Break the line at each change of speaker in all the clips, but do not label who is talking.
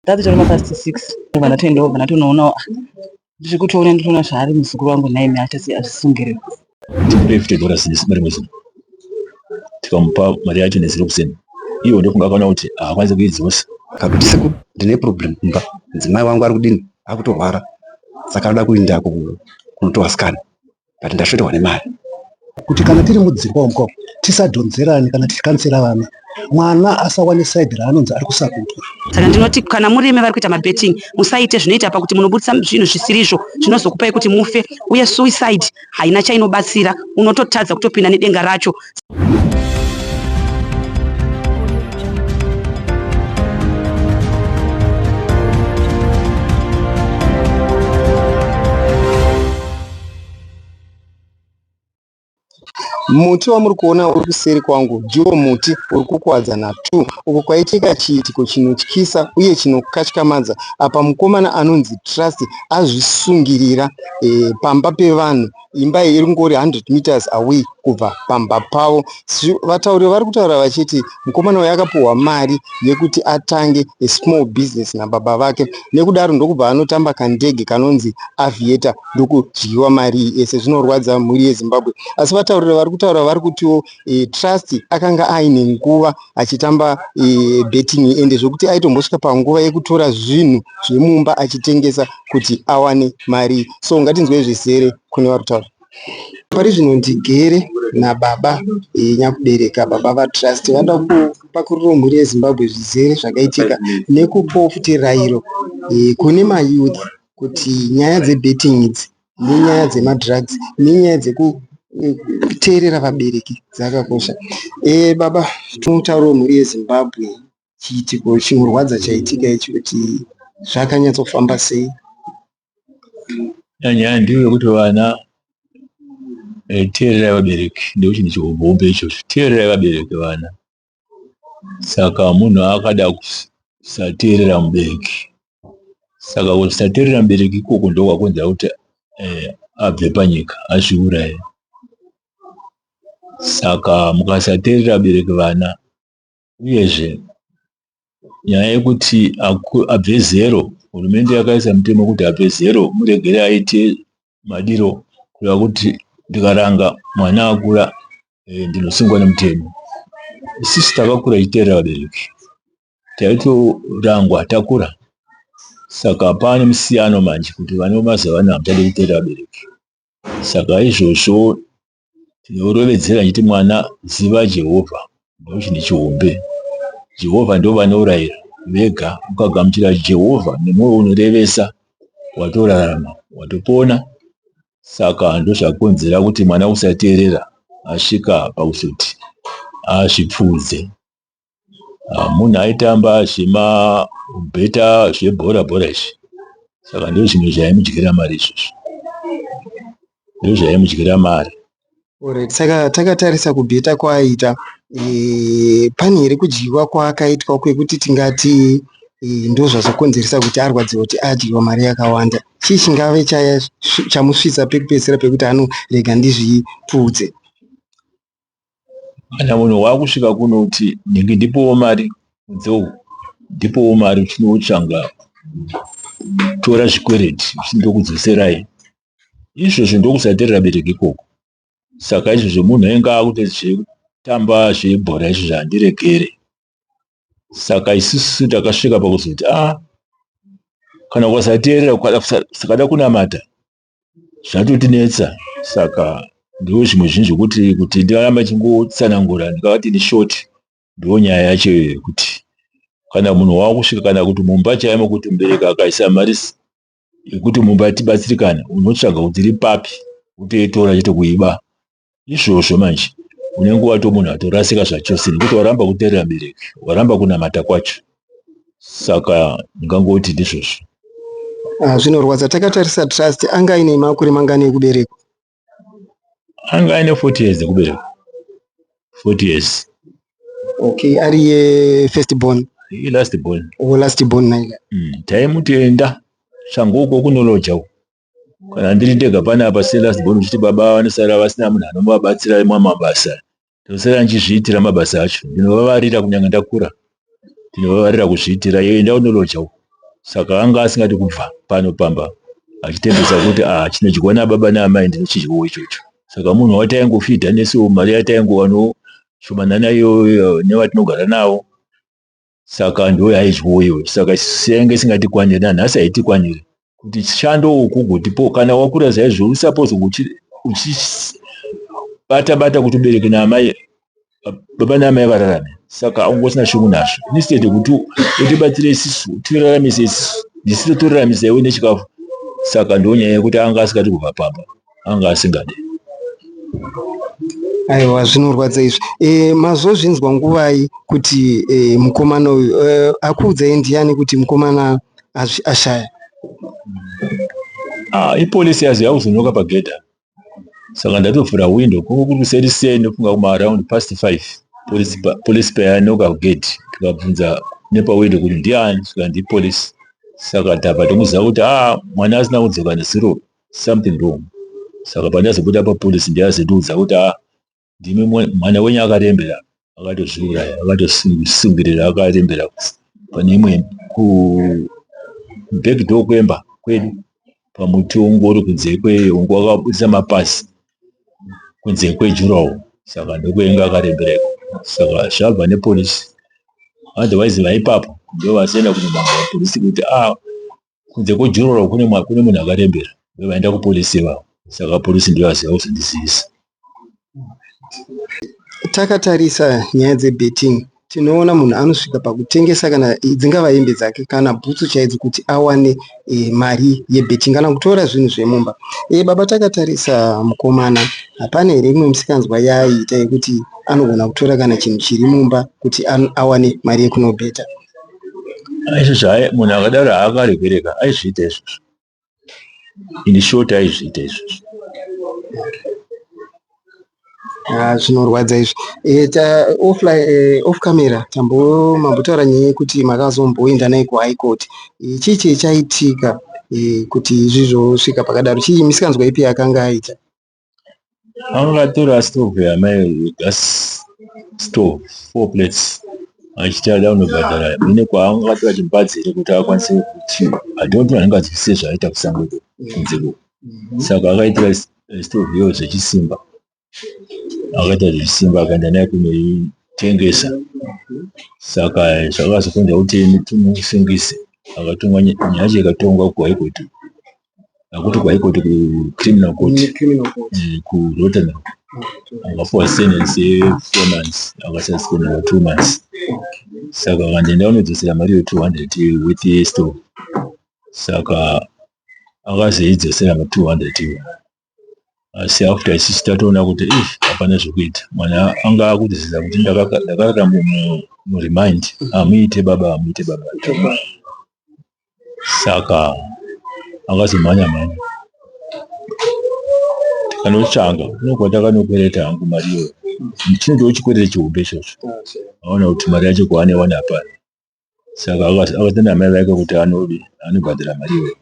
Tati tiri mapast six vana toenda vana tonoonawo tiri kutoona nditoona zvaari muzukuru wangu nhaimi achasi azvisungirira tikupe fifty
dollars nesimba rimwe zuva tikamupa mari yacho neziro kuseni iwo ndofunga akaona kuti haakwanisi kuidzosa kakuti siku
ndine problem kumba mudzimai wangu ari kudini akutorwara saka anoda kuindako kunotoasikana but ndashoterwa nemari kuti kana
tiri mudzimba umu ko tisadhonzerane kana tichikansira vana mwana asawane side raanonzi ari kusakutwa saka ndinoti kana
muri imi vari kuita mabetting musaite zvinoita pakuti munobudisa zvinhu zvisiri izvo zvinozokupai kuti mufe uye suicide haina chainobatsira unototadza kutopinda nedenga racho
Muti wamuri kuona uri kuseri kwangu ndiwo muti uri kukwadza naTwo uko kwaitika chiitiko chinotyisa uye chinokatyamadza apa mukomana anonzi Trust azvisungirira e, pamba pevanhu imba iyi iri kungori 100 meters away kubva pamba pavo vatauri vari kutaura vachiti mukomana uyo akapiwa mari yekuti atange a small business nababa vake nekudaro ndokubva anotamba kandege kanonzi aviator ndokudyiwa mari iyi ese zvinorwadza mhuri yezimbabwe asi vataurira vari kutaura vari kutiwo e, trust akanga aine nguva achitamba e, betting ende zvokuti aitombosvika panguva yekutora zvinhu zvemumba achitengesa kuti awane mari so ngatinzwei zvizere kune vari kutaura pari zvino ndigere nababa eh, nyakubereka baba vatrust vada kupakuriro mhuri yezimbabwe zvizere zvakaitika nekupawo futi rairo eh, kune mayouth kuti nyaya dzebetting idzi nenyaya dzemadrugs nenyaya dzekuteerera vabereki dzakakosha e, baba tinotaurawo mhuri yezimbabwe chiitiko chinorwadza chaitika ichi kuti zvakanyatsofamba sei
nyaya ndiyo yekuti vana eh, teererai vabereki ndochinhu chihombe ichocho teererai vabereki vana saka munhu akada kusateerera mubereki saka kusateerera mubereki ikoko ndokwakonzera kuti eh, abve panyika azviuraye saka mukasateerera bereki vana uyezve nyaya yekuti abve zero hurumende yakaisa mutemo kuti abve zero muregere aite madiro kureva kuti ndikaranga mwana akura eh, ndinosungwa nemutemo sisi takakura ichiteerera vabereki taitorangwa takura saka pane musiyano manje kuti vane mazuva vana havachade kuteerera vabereki saka izvozvo tinorovedzera chiti mwana ziva Jehovha ndochine chihombe Jehovha ndovanourayira vega ukagamuchira Jehovha nemwoyo unorevesa watorarama watopona saka ndozvakonzera kuti mwana usateerera asvika pakusoti azvipfuudze ah, munhu aitamba zvema beta zvebhora bhora izvi saka ndo zvimwe zvaimudyira mari izvozvo ndo zvaimudyira mari Alright, saka
takatarisa kubheta kwaaita e, pane here kudyiwa kwaakaitwa kwekuti tingati e, ndozvazokonzeresa kuti arwadziwa kuti adyiwa mari yakawanda chii chingave chamusvitsa pekupedzisira pekuti anorega ndizvipfuudze
kana munhu wakusvika kuno kuti ndingi ndipowo mari mudzou ndipowo mari uchinotsvanga tora zvikwereti uchindokudzoserai izvozvo ndokusaterera bereki ikoko saka izvozvo munhu ainge akuti zvekutamba zvebhora izvo zvandiregere saka isusu takasvika pakuzoti a ah, kana ukasateerera ukada kunamata zvatotinetsa saka ndiwo zvimwe zvinhu zvokuti kuti ndiraramba chingotsanangura ndikavati ni short ndiwo nyaya yacho iyoyo kuti kana munhu wakusvika kana kuti mumba chaimo kuti mubereki akaisa mari yekuti mumba tibatsirikane unotsvaga kuti iri papi utoitora chete kuiba izvozvo manje unenge wato munhu atorasika zvachose nekuti waramba kuterera bereki waramba kunamata kwacho saka ndingangoti ndizvozvo ah,
zvinorwadza takatarisa trust anga aine makore mangani ekuberekwa
anga aine 40 years ekuberekwa 40 years okay
ari ye first born ye last born o
oh, last born naiga
mm, taimutenda
shango uko kunoloja uko kana ndiri ndega pane apa selast born uchiti baba ava vanosara vasina munhu anovabatsira imwa mabasa ndosara ndichizviitira mabasa acho ndinovavarira kunyange ndakura ndinovavarira kuzviitira iyo enda unoloja uko saka anga asingati kubva pano pamba achitembesa kuti a ah, chinodyiwa nababa naamai ndinochidyawo ichocho saka munhu wataingofidha nesu mari yataingowano shomanana iyoyo nevatinogara navo saka ndoyaizwawo iwe saka isusu yainge isingatikwanire nanhasi haitikwanire kuti chishando uku gotipo kana wakura zaizvo usapozo uchibata bata kuti ubereke naamai baba naamai vararame saka aunge usina shungu nazvo instead yekuti utibatsire isisu utiraramise isisu ndisito toraramisa iwe nechikafu saka ndonyaya yekuti anga asikati kubva pamba anga asingade
aiwa zvinorwadza izvi e, mazozvinzwa nguvai kuti e, mukomana uyu e, akuudzai ndiyani kuti mukomana ashaya
ah, ipolisi yazi yakuzonoka pagedha saka ndatovhura windo kunge kuri kuseri sei ndofunga kuma around past five polisi payanoka kugedhi tikabvunza nepawindo kuti ndiani saka ndipolisi saka tava tomuziva kuti a ah, mwana asina kudzoka nezuro something wrong saka pandazobuda papolice ndiyazondiudza kuti a ah, ndimi mwana wenyu akarembera akatozviuraya akatosungirira akarembera pane imwe kubackdoor kwemba kwedu pamuti wongori kunze kweyongo akabudisa mapasi kunze kwejurawo saka ndokuenga akarembereko saka zvabva nepolisi otherwise vaipapo ndovasienda kunomaa polisi kuti a ah, kunze kwejuroro kune kune munhu akarembera vaenda kupolisi ivavo saka polisi ndiyo aziva kuzondizivisa
takatarisa nyaya dzebetting tinoona munhu anosvika pakutengesa kana dzingava hembe dzake kana bhutsu chaidzo kuti awane e, mari yebetting kana kutora zvinhu zvemumba e, baba takatarisa mukomana hapana here imwe misikanzwa yaiita yekuti anogona kutora kana chinhu chiri mumba kuti awane mari yekunobheta
aizvozvo hai munhu akadaro haakaregereka aizviita izvozvo ini short aizviita izvozvo
ah, zvinorwadza izvi eh, eh, off camera tambomambotaura nyaya yekuti makazomboenda naye kuhigh court chii chii chaitika kuti izvi zvosvika pakadaro chii misikanzwa ipi yakanga aita
angatora stove yamai gas stove four plates achiti ada kunobhadhara ine kwaangatora chimbadzi here kuti akwanise kuti adonto anenge adzwisise zvaaita kusango iko kunze ko saka akaitora stove iyo zvechisimba akaita zvechisimba akaenda naye kunoitengesa saka zvakazokonza kuti tumusungize akatonga nyaya yacho ikatongwa kuhaikotu akuti kwaikoti kucriminal court eh, kurotterdam akapuwa sentence yefour months akasasipenda two months saka kanje ndaonodzosera mari yo 200 with store saka akazoidzosera ma 200 iwo asi after isusu tatoona kuti if hapana zvekuita mwana anga akutizidza kuti ndakarara muremind hamuite baba hamuite baba saka akazomhanya mhanya tikanotsvanga unokuva takanokwereta hangu mari iyoyo chinotoo chikwerete chihombe ichocho aona kuti mari yacho kwaane wana hapana saka akatenda amai vake kuti anodi anobhadhara mari iyoyo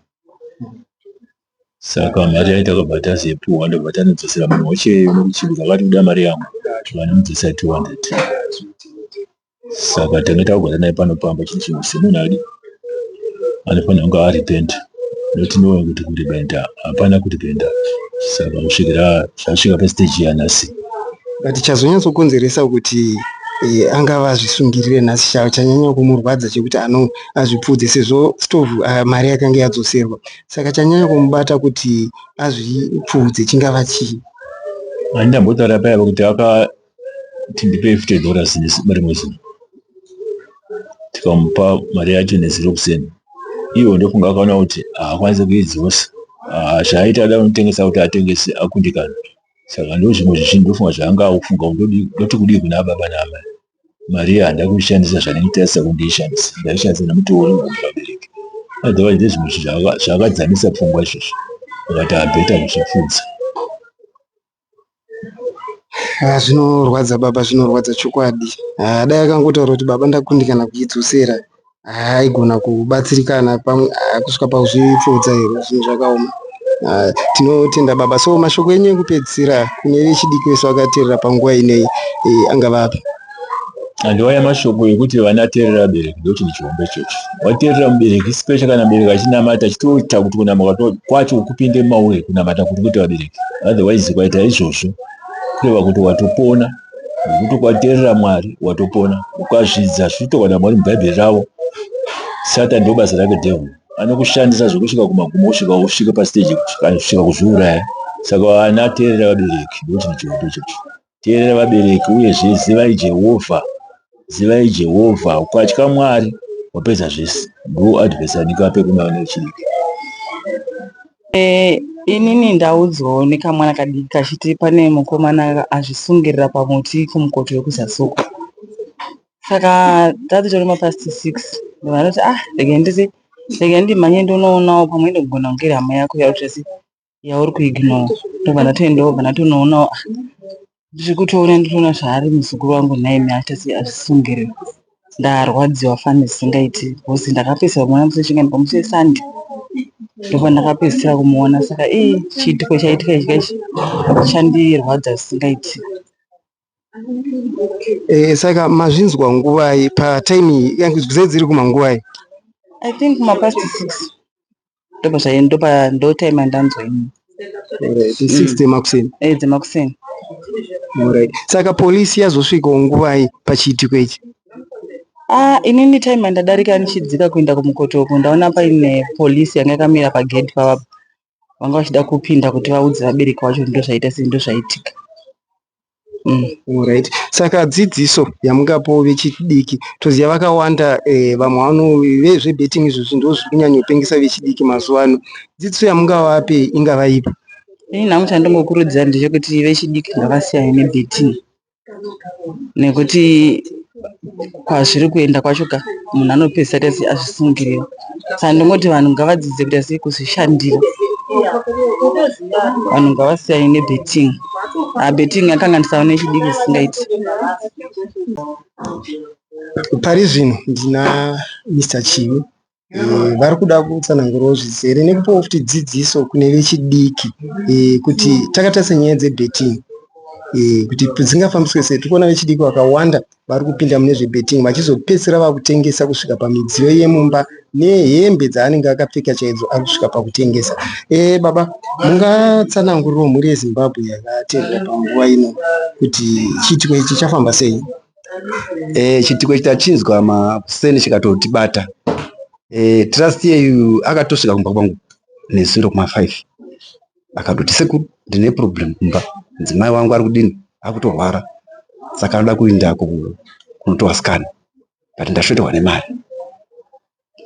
saka mari yaiti akabva tazepuwa ndobva tanodzosera munhu wacheyo nokuchibika akati kuda mari yangu vanomudzosera 200 saka tanga takugara naye pano pamba chii chinhu semunhu adi anofanira kunge arepenta Zvatinoona kuti kudependa hapana kudependa saka kusvikira zvasvika pastage yanhasi. But
chazonyatsokonzeresa kuti eh, angava azvisungirire nhasi cha- chanyanya kumurwadza chekuti ano azvipfuudze sezvo stove ah, mari yakange yadzoserwa saka chanyanya kumubata kuti azvipfuudze chingava chii Handina
mbotaura paya kuti aka kuti ndipei fute dhora zinesimba rimwe zuva tikamupa mari yacho nezuro kuseni ivo ndofunga akaona kuti haakwanisi kuidzosa ah, zvaaita ada unotengesa kuti atengese akundikana saka ndo zvimwe zvezvinhu ndofunga zvaanga akufunga ndoti kudii kuna baba naamai mari iya handa kuishandisa zvandiitarisa kundiishandisa ndaishandisa nemutoo vabereki otherwise ndezvimwe zvinhu zvaakadzamisa pfungwa izvozvo akati abheta kuzvipfudza
Haa zvinorwadza baba zvinorwadza chokwadi. Haa dai akangotaura kuti baba ndakundikana kuidzosera haa aigona kubatsirikana pamwe haa kusvika pakuzvipfuudza here zvinhu zvakaoma. Haa tinotenda baba so mashoko enyu ekupedzisira kune vechidiki vese vakateerera panguva inei angava api. andiwaya
mashoko ekuti vana terera bereki ndokuti ndichihombe chochi waterera mubereki special kana mubereki achinamata chitoita kuti kunamuka kwacho kupinde maure kunamata kuti kuti vabereki otherwise kwaita izvozvo kureva kuti watopona nekuti kwaterera mwari watopona ukazvidza zvitoka na mwari mubhaibheri ravo satan ndo basa rake devil anokushandisa zvekusvika kumagumo usvika usvike pasiteji kana kusvika kuzviuraya saka vana terera vabereki ndokuti ndichihombe chochi Teerera vabereki, uyezve zivai Jehovha. Zivai Jehovha. Ukatya Mwari, wapedza zvese. Go advice yandinga ape kune vana vechidiki. Eh,
inini ndaudzwawo nekamwana kadiki kachiti pane mukomana azvisungirira pamuti kumukoto wekuzasuka saka tati tori mapast six vanoti ah rega ndizi rega ndimhanye ndonoonawo pamwe ndogona kunge iri hama yako yautesi yauri kuignore tobva ndatoendawo bva ndatonoonawo ah, ndiri kutoona nditoona zvaari muzukuru wangu nhaimi achasi azvisungire ndarwadziwa fani zvisingaiti bcause ndakapedzisira kumuona musi wechinga ndipamusi wesande ndobva ndakapedzisira kumuona saka i chiitiko chaitika ichi kaichi chandirwadza zvisingaiti
Eh, saka mazvinzwa nguvai patime yangu zai dziri kumanguvai i think
mapast six ndopazvaye ndopa ndotime yandanzwa ini Alright,
6 dzemakuseni eh dzemakuseni Alright. saka polisi yazosvikawo nguvai pachiitiko ichi Ah,
inini time yandadarika ndichidzika kuenda kumukoto uku ndaona paine polisi yanga yakamira pagedhi pavapa vanga vachida kupinda kuti vaudze vabereki vacho ndozvaita sei ndozvaitika Mm,
right. Saka dzidziso yamungapo vechidiki toziva vakawanda eh, vamwe vano vezvebetting izvo zvinhu ndozviri kunyanyopengesa vechidiki mazuva ano dzidziso yamungavape ingava ipi Ini nhamu
chandingokurudzira ndechekuti vechidiki ngavasiyane nebetting nekuti kwazviri kuenda kwacho ka munhu anopedzisira asi azvisungirira saka ndingoti vanhu ngavadzidze kuita sei kuzvishandira vanhu ngavasiyane nebetting ah, betting yakanganisa vane chidiki zvisingaiti
pari zvino ndina mr chivi Eh, vari kuda kutsanangurawo zvizere nekupawo futi dzidziso kune vechidiki eh, kuti takatarisa nyaya dzebetting eh, kuti dzingafambiswe sei tikuona vechidiki vakawanda vari kupinda mune zvebetting vachizopedzisira vakutengesa kusvika pamidziyo yemumba nehembe dzaanenge akapfeka chaidzo ari kusvika pakutengesa baba mungatsananguriro mhuri yezimbabwe yakateerera panguva ino kuti chiitiko ichi chafamba sei e,
chitiko ichi tachinzwa makuseni chikatotibata e, trust yeyu akatosvika kumba kwangu nezuro kuma 5 akatoti sekuru ndine problem kumba mudzimai wangu ari kudini akutorwara saka anoda kuenda kunotoasikana but ndashoterwa nemari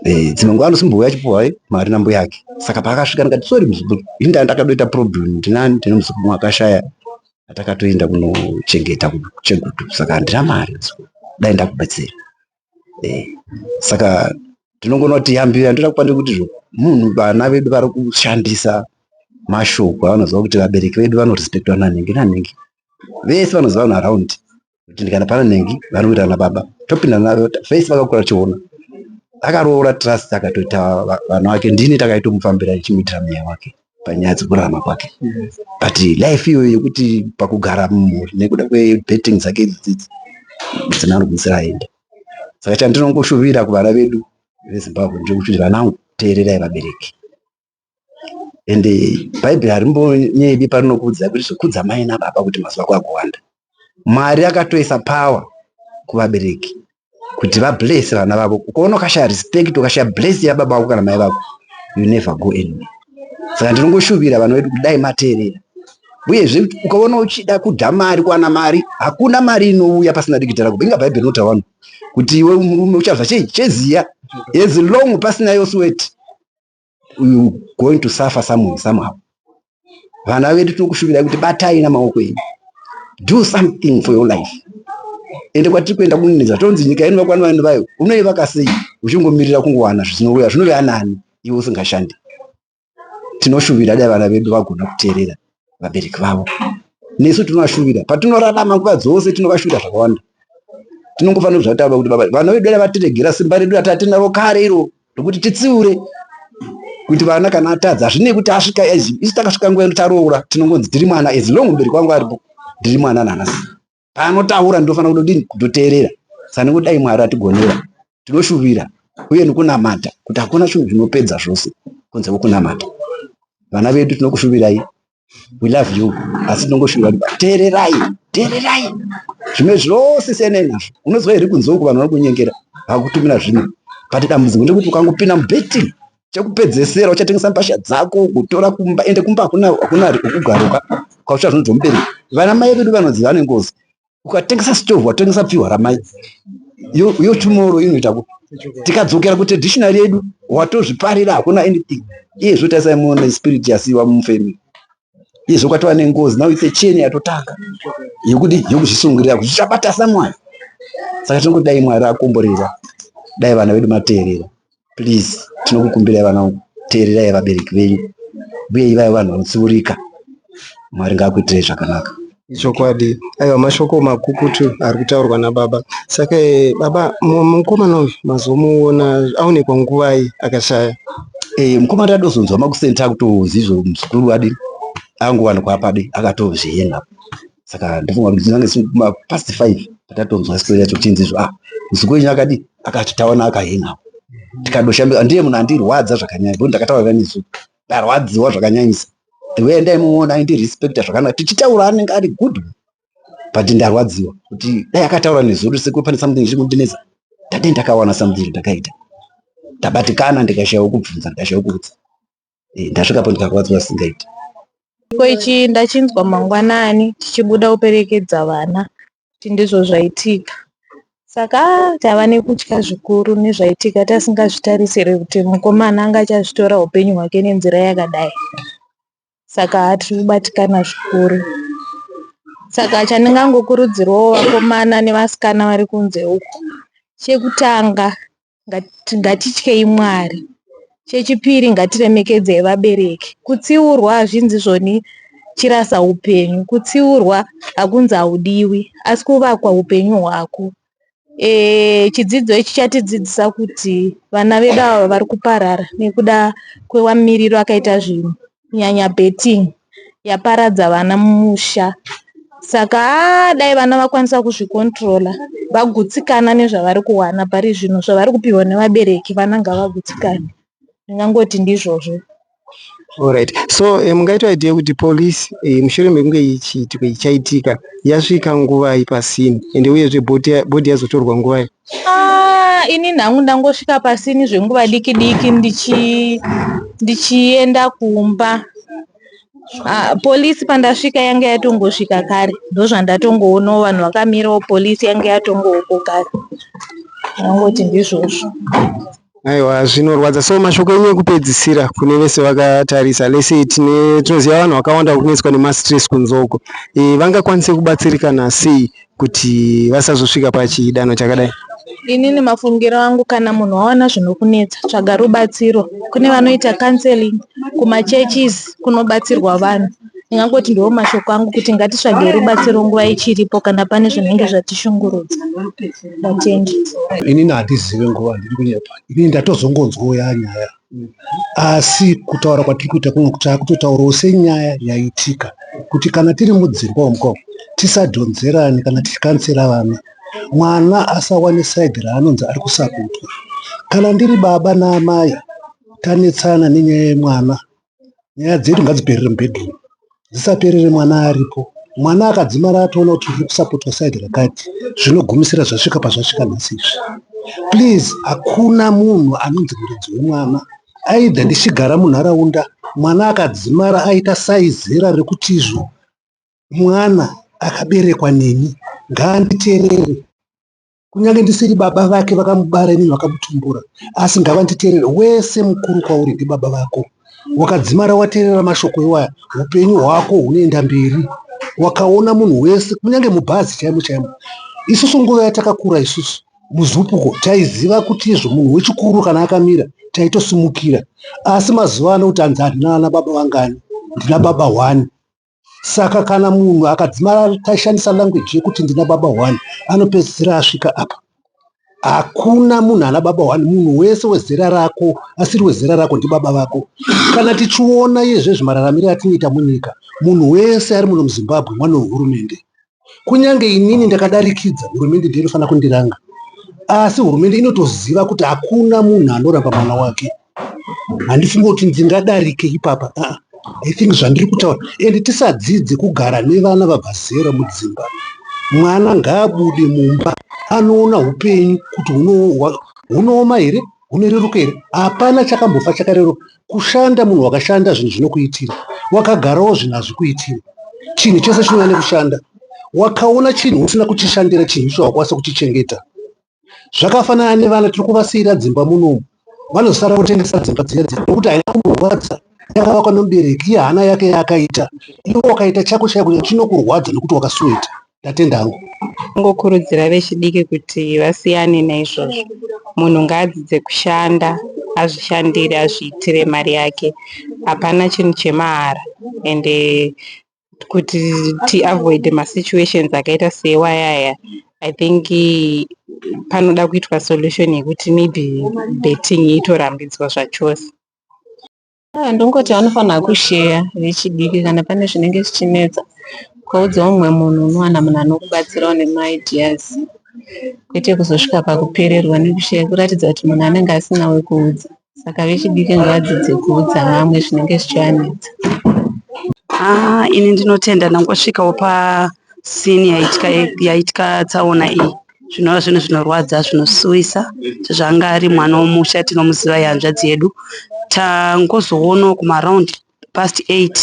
Eh, dzimwe nguva anosimbuya achipuhwa eh, mari nambo yake saka paakasvika ndikati sori muzukuru ini ndanga ndakatoita problem ndinani ndine muzukuru wakashaya atakatoenda kunochengeta kuchegutu saka handina mari dai ndakubatsira eh, saka tinongonoti yambira ndoda kupande kuti zvo munhu vana vedu vari kushandisa mashoko avanoziva kuti vabereki vedu vanorespectwa nanhingi nanhingi vese vanoziva vanhu araundi kutindikana pana nengi vanoita na baba topinda navo face vakakura chiona akaroora trust akatoita vana wake ndini takaitomufambira ichimuitira mweya wake panyaya dzekurarama kwake but life iyoyo yekuti pakugara mumhuri nekuda kwebetting dzake idzidzidzi musina anogwisira aenda saka chandinongoshuvira kuvana vedu vezimbabwe ndiri kuti vanangu teererai vabereki and bhaibheri harimbonyebi parinokuudzai kuti zvekudza mai nababa kuti mazuva ako akuwanda mwari akatoisa power kuvabereki kuti vablese vana vavo ukaona ukashaya respect ukashaya bless yababa vako kana mai vako you never go anywhere saka ndinongoshuvira vana vedu kudai mateerera uyezve ukaona uchida kudya mari kuwana mari hakuna mari inouya pasina dikita rako inga bhaibheri inotaura vanhu kuti iwe murume uchazva chei cheziya as long pasina yoswet you going to suffer somewhere somehow vana vedu tinokushuvirai kuti batai namaoko enyu do something for your life ende kwatiri kuenda kunonedza tonzi nyika yenu vakwana vanhu vayo unoivaka sei uchingomirira kungowana zvinouya zvinove anani iwe usingashandi tinoshuvira dai vana vedu vagona kuteerera vabereki vavo nesu tinovashuvira patinorarama nguva dzose tinovashuvira zvakawanda tinongofanira zvataura kuti baba vana vedu dai vatiregera simba redu rati atinaro kare iro rokuti titsiure kuti vana kana atadza hazvinei kuti asvika isu takasvika nguva ino taroora tinongonzi ndiri mwana as long mberi kwangu aripo ndiri mwana nanhasi paanotaura ndinofanira kudodini kutoteerera sani kudai mwari atigonera tinoshuvira uye nikunamata kuti hakuna chinhu zvinopedza zvose kunze kwekunamata vana vedu tinokushuvirai we love you asi tinongoshuvira kuti teererai teererai zvimwe zvose siyanai nazvo unozwa here kunzoko vanhu vari kunyengera vakutumira zvino but dambudziko ndekuti ukangopinda mubetting chekupedzesera uchatengesa mbasha dzako kutora kumba ende kumba hakuna hakuna kugaruka kwaucha zvinonzwa mubereki vana mai vedu vanoziva vane ngozi ukatengesa stove watengesa pfihwa ramai yo yo tomorrow inoita ku tikadzokera kutraditional yedu watozviparira hakuna anything iye zvotarisai muone spirit yasiwa mufamily izvo kwatova nengozi now it's a chain yatotanga yekuti yekuzvisungirira kuti zvichabata samwari saka tinongoti dai mwari akomborera dai vana vedu mateerera please tinokukumbirai vana vangu teererai vabereki venyu uye ivai vanhu vanotsiurika mwari ngaakuitirei zvakanaka Ichokwadi.
Aiwa mashoko makukutu ari kutaurwa nababa. Saka eh, baba mu- mukomana uyu mazomuona aonekwa nguvai akashaya. Eh, mukoma
tadozonzwa makusenta kutozizvo muzukuru wadi angowanikwa padi akatozviyenga saka ndofunga kuti tinange ma past five patatonzwa story yacho kuchinzi izvo ah muzukuru wenyu akadi akati taona akayenga tikadoshambe ndiye munhu andirwadza zvakanyanya bo ndakataura nesu ndarwadziwa zvakanyanyisa ndiwe endai muona aindirespecta zvakanaka tichitaura anenge ari good but ndarwadziwa kuti dai akataura nezuro sekuru pane something chiri kundinetsa ndadai ndakawana something ndakaita ndabatikana ndikashaya wekubvunza ndikashaya wekuudza eh, ndasvikapo ndikarwadziwa singaiti Chiitiko ichi
ndachinzwa mangwanani tichibuda kuperekedza vana kuti ndizvo zvaitika. Saka taiva nekutya zvikuru nezvaitika tasingazvitarisire kuti mukomana anga achazvitora upenyu hwake nenzira yakadai. Saka tiri kubatikana zvikuru. Saka chandingangokurudzirawo vakomana nevasikana vari kunze uko, chekutanga Ngat- ngatityei mwari chechipiri ngatiremekedzei vabereki kutsiurwa hazvinzi zvoni chirasa upenyu kutsiurwa hakunzi haudiwi asi kuvakwa upenyu hwako e, chidzidzo ichi chatidzidzisa kuti vana vedu ava vari kuparara nekuda kwewamiriro akaita zvinhu nyanya betting yaparadza vana mumusha saka ah, dai vana vakwanisa kuzvikontrola vagutsikana nezvavari kuwana pari zvino zvavari kupihwa nevabereki vana ngavagutsikane ndingangoti ndizvozvo Alright.
So eh, mungaita idea kuti police eh, mushure mekunge ichiitika ichaitika yasvika nguvai pasini ende uyezve body yazotorwa nguvai? Ah, ini
nhangu ndangosvika pasini zvenguva diki diki ndichi ndichienda kumba Ah, polisi pandasvika yanga yatongosvika kare ndozvandatongoonawo vanhu vakamirawo polisi yanga yatongouko kare ndangoti ndizvozvo Aiwa
zvinorwadza so mashoko enyu ekupedzisira kune vese vakatarisa lese tine tinoziva vanhu vakawanda vakunetswa nemastress kunzoko e, vangakwanise kubatsirikana sei kuti vasazosvika pachidanho chakadai inini
mafungiro angu kana munhu waona zvinokunetsa tsvaga rubatsiro kune vanoita counseling kumachurches kunobatsirwa vanhu ndingangoti ndiwo mashoko angu kuti ngatitsvagei rubatsiro nguva ichiripo kana pane zvinenge zvatishungurudza vatendi inini
handizive nguva ndiri kunyepa inini ndatozongonzwawo yaa nyaya asi kutaura kwatiri kuita kuno kuti akutotaurawo senyaya yaitika kuti kana tiri mudzimba omko tisadhonzerani kana tichikansira vana mwana asawane saidhi raanonzi ari kusakutwa kana ndiri baba naamaya tanetsana nenyaya yemwana nyaya dzedu ngadziperere mubedroom dzisaperere mwana aripo mwana akadzimara atoona kuti uri kusapotwa side rakati zvinogumisira zvasvika pazvasvika nhasi izvi please hakuna munhu anonzi muridzi wemwana aidha ndichigara munharaunda mwana akadzimara aita saizera rekuti izvo mwana akaberekwa neni ngaanditerere kunyange ndisiri baba vake vakamubara inini vakamutumbura asi ngavanditerere wese mukuru kwauri ndibaba vako wakadzimara waterera mashoko iwaya upenyu hwako hunoenda mberi wakaona munhu wese kunyange mubhazi chaimo chaimo isusu nguva yatakakura isusu muzupuko taiziva kuti izvo munhu wechikuru kana akamira taitosimukira asi mazuva ano kuti anzi handinana baba vangani ndina baba one saka kana munhu akadzimara tashandisa language yekuti ndina baba one anopedzisira asvika apa hakuna munhu ana baba one munhu wese wezera rako asiri wezera rako ndibaba vako kana tichiona iye zvezvimararamiro atinoita munyika munhu wese ari muno muzimbabwe mwana wehurumende kunyange inini ndakadarikidza hurumende ndiyo inofanira kundiranga asi hurumende inotoziva kuti hakuna munhu anoramba mwana wake handifunge kuti ndingadarike ipapa ah, i think zvandiri kutaura and tisadzidze kugara nevana vabva zera mudzimba mwana ngaabude mumba anoona upenyu kuti hunooma here hunoreruka here hapana chakambofa chakareruka kushanda munhu wakashanda zvinhu zvinokuitira wakagarawo zvinhu hazvikuitira chinhu chese chinouya nekushanda wakaona chinhu usina kuchishandira chinhu icho wakwanisa kuchichengeta zvakafanana nevana tiri kuvasiyira dzimba munomu vanosara kutengesa dzimba dziya dziya nokuti haina kumborwadza yakavakwa nomubereki iye hana yake yaakaita iwe wakaita chako chaiko chinokurwadza nokuti wakasuweta ndatenda hangu Tingokurudzira
vechidiki kuti vasiyane naizvozvo. Munhu ngaadzidze kushanda, azvishandire, azviitire mari yake. Hapana chinhu chemahara ende kuti tiavoide masituations akaita seiwaya aya I think panoda kuitwa solution yekuti maybe betting itorambidzwa zvachose.
Ah, ndongoti vanofanira kusheya vechidiki kana pane zvinenge zvichinetsa ukaudza umwe munhu unowana munhu anokubatsirawo nemaideas kwete kuzosvika pakupererwa nekusheya kuratidza kuti munhu anenge asina wekuudza saka vechidiki ngavadzidze kuudza vamwe zvinenge zvichivanetsa
Ah, ini ndinotenda ndangosvikawo pasini yaitya, yaitya tsaona iyi zvinova zvinhu zvinorwadza zvinosuwisa sezvaanga ari mwana womusha tinomuziva ihanzvadzi yedu tangozoonawo kumaround past eight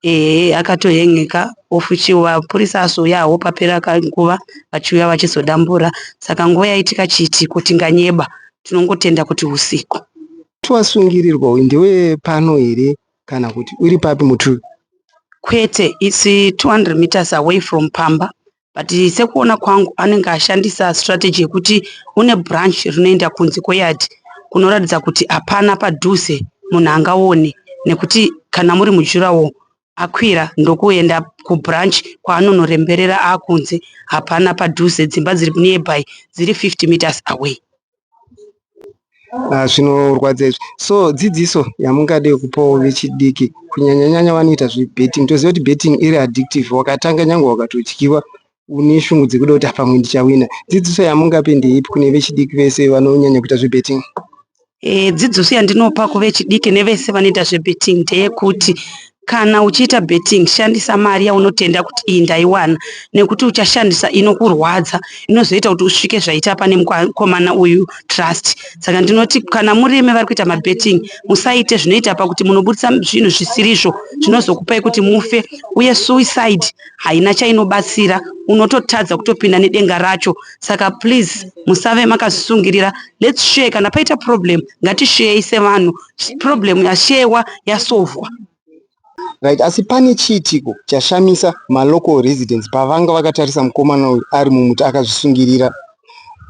ehe akatohengeka ofuti vapurisa azouyawo papera kanguva vachiuya vachizodambura saka nguva yaitika chiitiko tinganyeba tinongotenda kuti usiku twasungirirwa
uyu ndewe pano here kana kuti uri papi mutuvi kwete
its 200 meters away from pamba but sekuona kwangu anenge ashandisa strategy yekuti une branch rinoenda kunze kweyard kunoratidza kuti hapana padhuze munhu angaone nekuti kana muri mujurawo akwira ndokuenda kubranch kwaanonoremberera akunze hapana padhuze dzimba dziri nearby dziri 50 meters away Ah,
zvinorwadza izvi so dzidziso yamungade kupawo vechidiki kunyanyanyanya vanoita zvebetting toziva kuti betting iri addictive wakatanga nyange wakatodyiwa une shungu dzekuda kuti pamwe ndichawina dzidziso yamungape ndeipi kune vechidiki vese vanonyanya kuita zvebetting Eh,
dzidziso yandinopa kuvechidiki nevese vanoita zvebetting ndeyekuti Kana uchiita betting shandisa mari yaunotenda kuti iyi ndaiwana nekuti uchashandisa inokurwadza inozoita kuti usvike zvaita pane mukomana uyu trust. Saka ndinoti kana murimi vari kuita mabetting musaite zvinoita pakuti munoburitsa zvinhu zvisirizvo zvinozokupai kuti mufe uye suicide haina chainobatsira unototadza kutopinda nedenga racho saka please musave makazvisungirira let's share kana paita problem ngatisheyei sevanhu problem yashewa yasovwa
right asi pane chiitiko chashamisa malocal residence pavanga vakatarisa mukomana uyu ari mumuti akazvisungirira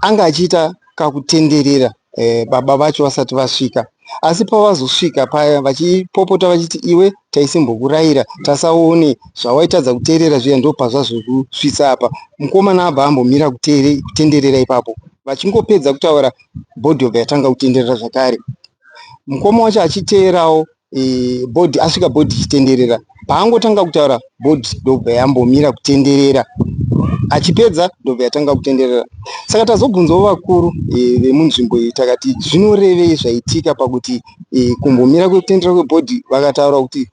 anga achiita kakutenderera eh, baba vacho vasati vasvika asi pavazosvika paya vachipopota vachiti iwe taisimbokurayira tasaone zvawaitadza kuteerera zviya ndo pazvazvokusvitsa apa mukomana abva ambomira kutenderera ipapo vachingopedza kutaura bhodhi yobva yatanga kutenderera zvakare mukoma wacho achiteerawo e, bhodhi asvika bhodhi ichitenderera paangotanga kutaura bhodhi ndobva yambomira kutenderera achipedza ndobva yatanga kutenderera saka tazobvunzawo vakuru e, vemunzvimbo iyi takati zvinorevei zvaitika pakuti e, kumbomira kwekutenderera kwebhodhi vakataura kuti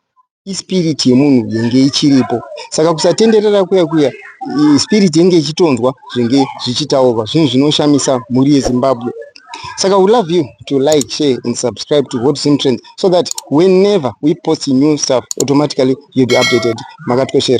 ispirit yemunhu yange ichiripo saka kusatenderera kuya kuya spirit yange ichitonzwa zvinge zvichitaurwa zvinhu zvinoshamisa mhuri yezimbabwe saka we love you to like share and subscribe to hot sim trends so that whenever we post new stuff automatically you'll be updated makatikoshera